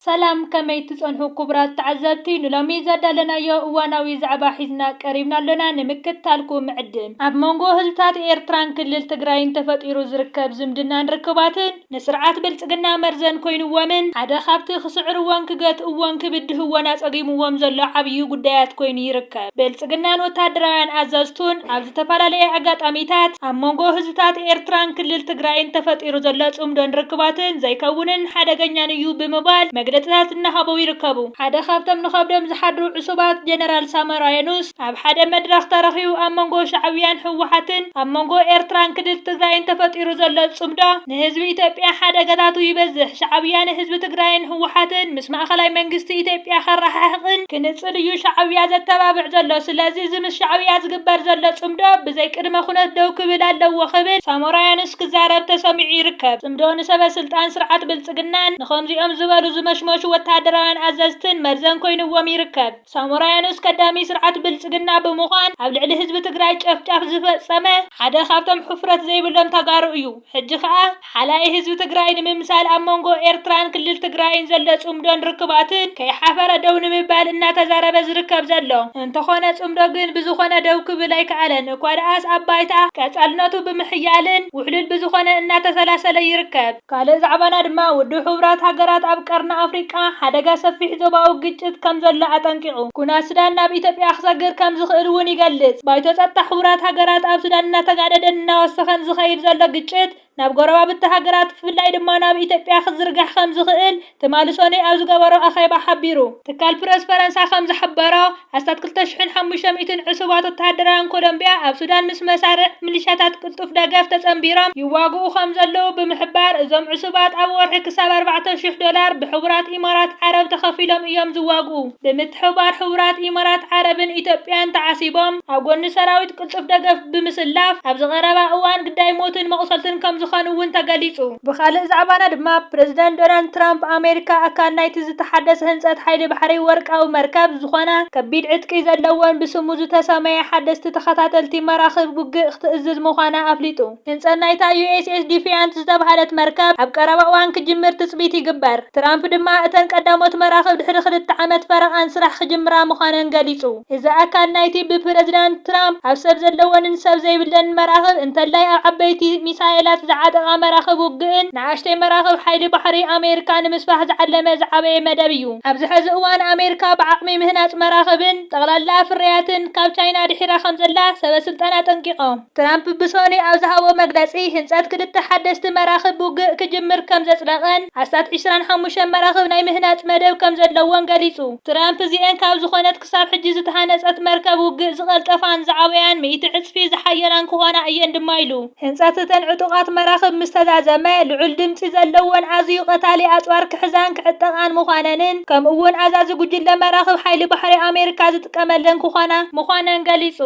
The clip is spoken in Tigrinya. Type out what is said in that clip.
ሰላም ከመይ ትጸንሑ ኩቡራት ተዓዘብቲ ንሎሚ ዘዳለናዮ እዋናዊ ዛዕባ ሒዝና ቀሪብና ኣሎና ንምክትታልኩ ምዕድም። ኣብ መንጎ ህዝብታት ኤርትራን ክልል ትግራይን ተፈጢሩ ዝርከብ ዝምድናን ርክባትን ንስርዓት ብልጽግና መርዘን ኮይንዎምን ሓደ ካብቲ ክስዕርዎን ክገትእዎን ክብድህዎን ኣጸጊምዎም ዘሎ ዓብዩ ጉዳያት ኮይኑ ይርከብ። ብልጽግናን ወተሃደራውያን ኣዘዝቱን ኣብ ዝተፈላለየ ኣጋጣሚታት ኣብ መንጎ ህዝብታት ኤርትራን ክልል ትግራይን ተፈጢሩ ዘሎ ጽምዶን ርክባትን ዘይከውንን ሓደገኛን እዩ ብምባል መግለጺታት እናሃበው ይርከቡ። ሓደ ካብቶም ንኸብዶም ዝሓድሩ ዕሱባት ጀነራል ሳሞራ የኑስ ኣብ ሓደ መድረኽ ተረኺቡ ኣብ መንጎ ሻዕብያን ህወሓትን ኣብ መንጎ ኤርትራን ክልል ትግራይን ተፈጢሩ ዘሎ ጽምዶ ንህዝቢ ኢትዮጵያ ሓደጋታቱ ይበዝሕ። ሻዕብያ ንህዝቢ ትግራይን ህወሓትን ምስ ማእኸላይ መንግስቲ ኢትዮጵያ ከረሓሕቕን ክንፅል እዩ ሻዕብያ ዘተባብዕ ዘሎ። ስለዚ እዚ ምስ ሻዕብያ ዝግበር ዘሎ ፅምዶ ብዘይ ቅድመ ኩነት ደው ክብል ኣለዎ ክብል ሳሞራያኑስ ክዛረብ ተሰሚዑ ይርከብ። ፅምዶ ንሰበ ስልጣን ስርዓት ብልፅግናን ንኸምዚኦም ዝበሉ ዝመሽመሹ ወታደራውያን ኣዘዝትን መርዘን ኮይንዎም ይርከብ። ሳሞራ የኑስ ከዳሚ ስርዓት ብልፅግና ብምዃን ኣብ ልዕሊ ህዝቢ ትግራይ ጨፍጫፍ ዝፈፀመ ሓደ ካብቶም ሕፍረት ዘይብሎም ተጋሩ እዩ። ሕጂ ከዓ ሓላዪ ህዝቢ ትግራይ ንምምሳል ኣብ መንጎ ኤርትራን ክልል ትግራይን ዘሎ ፅምዶን ርክባትን ከይሓፈረ ደው ንምባል እናተዛረበ ዝርከብ ዘሎ እንተኾነ ፅምዶ ግን ብዝኾነ ደው ክብል ኣይከኣለን እኳድኣስ ኣብ ባይታ ቀፃልነቱ ብምሕያልን ውሕሉል ብዝኾነ እናተሰላሰለ ይርከብ። ካልእ ዛዕባና ድማ ውድብ ሕቡራት ሃገራት ኣብ ቀርኒ ኣፍሪቃ ሓደጋ ሰፊሕ ዞባዊ ግጭት ከምዘሎ ኣጠንቂቑ ኩናት ሱዳን ናብ ኢትዮጵያ ክሰግር ከምዝኽእል እውን ይገልጽ። ባይቶ ጸጥታ ሕቡራት ሃገራት ኣብ ሱዳን እናተጋደደን እናወሰኸን ዝኸይድ ዘሎ ግጭት ናብ ጎረባብቲ ሃገራት ብፍላይ ድማ ናብ ኢትዮጵያ ክዝርጋሕ ከምዝኽእል ትማሊ ሰኑይ ኣብ ዝገበሮ ኣኼባ ሓቢሩ። ትካል ፕረስ ፈረንሳ ከም ዝሓበሮ፣ ኣስታት ክልተ ሽሕን ሓሙሽተ ሚእትን ዕሱባት ወተሃደራውያን ኮሎምብያ ኣብ ሱዳን ምስ መሳርዕ ሚሊሻታት ቅልጡፍ ደገፍ ተጸንቢሮም ይዋግኡ ከም ዘለዉ ብምሕባር፣ እዞም ዕሱባት ኣብ ወርሒ ክሳብ ኣርባዕተ ሽሕ ዶላር ብሕቡራት ኢማራት ዓረብ ተኸፊሎም እዮም ዝዋግኡ። ብምትሕብባር ሕቡራት ኢማራት ዓረብን ኢትዮጵያን ተዓሲቦም ኣብ ጎኒ ሰራዊት ቅልጡፍ ደገፍ ብምስላፍ ኣብዚ ቀረባ እዋን ግዳይ ሞትን መቑሰልትን ከምዝኾኑ እውን ተገሊፁ። ብኻሊእ ዛዕባና ድማ ፕረዚዳንት ዶናልድ ትራምፕ ኣሜሪካ ኣካል ናይቲ ዝተሓደሰ ህንፀት ሓይሊ ባሕሪ ወርቃዊ መርከብ ዝኾና ከቢድ ዕጥቂ ዘለወን ብስሙ ዝተሰመየ ሓደስቲ ተኸታተልቲ መራኽብ ውግእ ክትእዝዝ ምዃና ኣፍሊጡ። ህንፀት ናይታ ዩኤስኤስ ዲፊያንት ዝተብሃለት መርከብ ኣብ ቀረባ እዋን ክጅምር ትፅቢት ይግበር። ትራምፕ ድማ እተን ቀዳሞት መራኽብ ድሕሪ ክልተ ዓመት ፈረቓን ስራሕ ክጅምራ ምዃነን ገሊፁ። እዚ ኣካል ናይቲ ብፕረዚዳንት ትራምፕ ኣብ ሰብ ዘለወንን ሰብ ዘይብለንን መራኽብ እንተላይ ኣብ ዓበይቲ ሚሳይላት ዝዓጠቓ መራኽብ ውግእን ንኣሽተይ መራኽብ ሓይሊ ባሕሪ ኣሜሪካ ንምስፋሕ ዝዓለመ ዝዓበየ መደብ እዩ። ኣብዚ ሕዚ እዋን ኣሜሪካ ብዓቕሚ ምህናፅ መራኽብን ጠቕላላ ፍርያትን ካብ ቻይና ድሒራ ከምዘላ ሰበስልጣን ኣጠንቂቖም። ትራምፕ ብሰኑይ ኣብ ዝሃቦ መግለጺ፣ ህንጸት ክልተ ሓደስቲ መራኽብ ውግእ ክጅምር ከም ዘጽደቐን ኣስታት ዕስራን ሓሙሽተን መራኽብ ናይ ምህናጽ መደብ ከም ዘለዎን ገሊጹ። ትራምፕ እዚኤን ካብ ዝኾነት ክሳብ ሕጂ ዝተሃነጸት መርከብ ውግእ ዝቐልጠፋን ዝዓበያን ሚእቲ ዕጽፊ ዝሓየላን ክኾና እየን ድማ ኢሉ። ህንጸት እተን ዕጡቓት መራኽብ ምስ ተዛዘመ፣ ልዑል ድምጺ ዘለዎን ኣዝዩ ቀታሊ ኣጽዋር ክሕዛን ክዕጠቓን ምዃነንን ከምኡ'ውን ኣዛዚ ጉጅለ መራኽብ ሓይሊ ባሕሪ ኣሜሪካ ዝጥቀመለን ክኾና ምዃነን ገሊጹ።